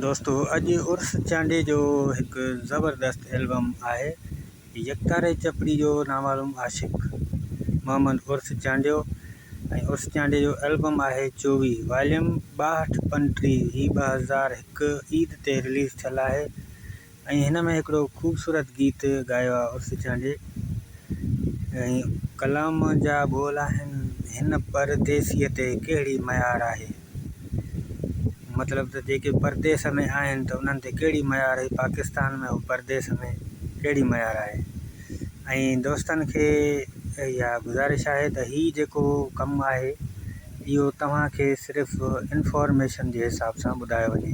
دوستو اڄ عرس چانڊيي جو هڪ زبردست البم آهي يڪتاري چپڙي جو نامعلوم عاشق محمد عرس چانڊيو ۽ عرس چانڊيي جو البم آهي چوي واليوم ٻاهٺ پنٽري هي ٻه هزار هڪ عيد تي رليز ٿيل آهي ۽ هن ۾ هڪڙو خوبصورت گيت ڳايو آهي عرس چانڊيي ۽ ڪلام جا ٻول آهن هن پرديسيء تي ڪهڙي ميار آهي مطلب ته جيڪي پرديس ۾ آهن ته انهن تي ڪهڙي ميار آهي پاڪستان ۾ هو پرديس ۾ ڪهڙي ميار آهي ۽ دوستن کي اها گذارش آهي ته هي جيڪو ڪم آهي اهو توهان کي صرف انفارميشن جي حساب سان ٻڌايو وڃي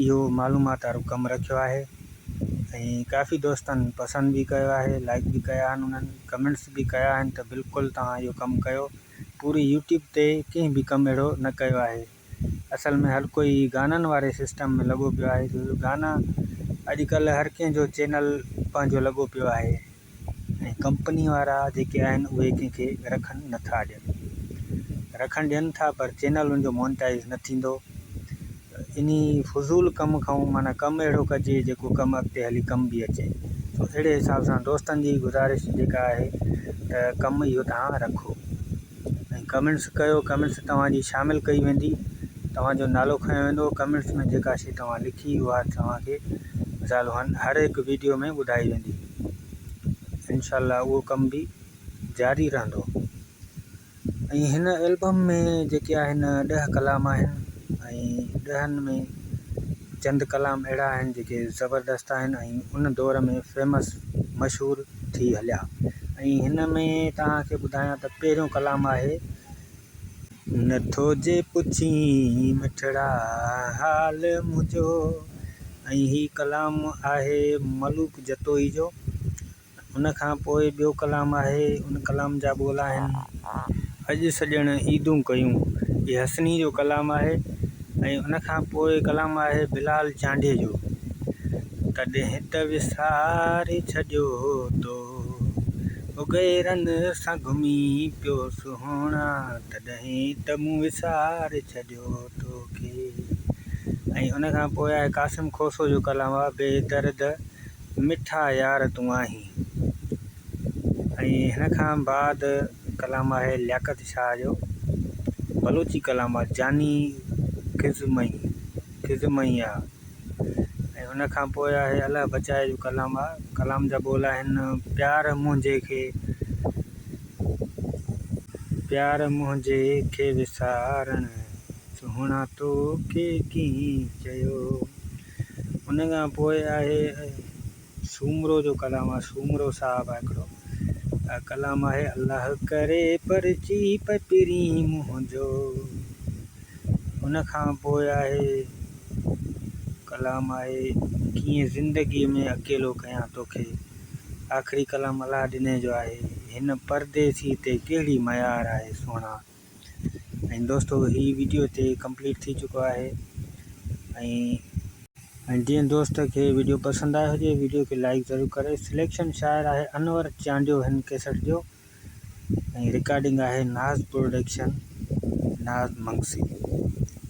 اهو معلومات وارو ڪم رکيو آهي ۽ ڪافي دوستن پسند به ڪيو آهي لائڪ به ڪيا آهن انهن ڪمينٽس به ڪيا آهن ته بلڪل توهان اهو ڪم ڪيو پوري يوٽيوب تي ڪنهن به ڪم اهڙو نه ڪيو آهي اصل ۾ هر ڪوئي گانن واري سسٽم ۾ لڳو پيو آهي جو گانا اڄڪلهه هر ڪنهن جو چينل پنهنجو لڳو پيو آهي ۽ ڪمپني وارا جيڪي آهن اهي ڪنهن کي رکن نه ٿا ڏين رکڻ ڏين ٿا پر چينل ان جو مونيٽائز نه ٿيندو ته انهي فضول ڪم کان معنيٰ ڪم اهڙو ڪجي جيڪو ڪم اڳتي هلي ڪم به اچي سو اهڙي حساب سان دوستن جي گذارش جيڪا آهي ته ڪم اهو توهان رکو ۽ ڪمينٽس ڪيو ڪمينٽس توهان جي شامل ڪئي ويندي توهان جو نالو کنيو ويندو ڪمينٽس ۾ جيڪا شي توهان لکي اها توهان کي زالوهن هر هڪ ويڊيو ۾ ٻڌائي ويندي انشاء الله اهو ڪم به جاري رهندو ۽ هن البم ۾ جيڪي آهن ڏهه ڪلام آهن ۽ ڏهن ۾ چند ڪلام اهڙا آهن جيڪي زبردست آهن ۽ ان دور ۾ فيمس مشهور ٿي هليا ۽ هن ۾ تهانکي ٻڌايان ته پهريون ڪلام آهي نٿو جي پڇين مٺڙا حال منهنجو ۽ هي ڪلام آهي ملوڪ جتوئي جو ان کان پوء ٻيو ڪلام آهي ان ڪلام جا ٻول آهن اڄ سڄڻ عيدون ڪيون هي حسني جو ڪلام آهي ۽ ان کان پوء ڪلام آهي بلال چانڊيي جو تڏهن ته وساري ڇڏيو تو غيرن سان گهمي پيو سهڻا تڏهن ته مون وساري ڇڏيو توکي ۽ ان کان پوء آهي قاسم کوسو جو ڪلام آهي بي درد مٺا يار تون آهين ۽ هن کان بعد ڪلام آهي لياقت شاهه جو بلوچي ڪلام آهي جاني کزمئي کزمئي آ ۽ ان کان پوء آهي الله بچاء جو ڪلام آ ڪلام جا ٻول آهن پيار منهنجي کي پيار منهنجي کي وسارڻ سهڻا تو کي ڪين چيو ان کان پوء آهي سومرو جو ڪلام آ سومرو صاحب آ هڪڙو ڪلام آهي الله ڪري پرچي پپرين منهنجو ان کان پوء آهي ڪلام آهي ڪيئن زندگي ۾ اڪيلو ڪيان توکي آخري ڪلام الله ڏني جو آهي هن پرديسي تي ڪهڙي ميار آهي سهڻا ۽ دوستو هي ويڊيو هتي ڪمپليٽ ٿي چڪو آهي ۽ جنهن دوست کي ويڊيو پسند آيو هجي ويڊيو کي لائڪ ضرور ڪري سليڪشن شاعر آهي انور چانڊيو هن ڪيسٽ جو ۽ رڪارڊنگ آهي ناز پروڊڪشن ناز منگسي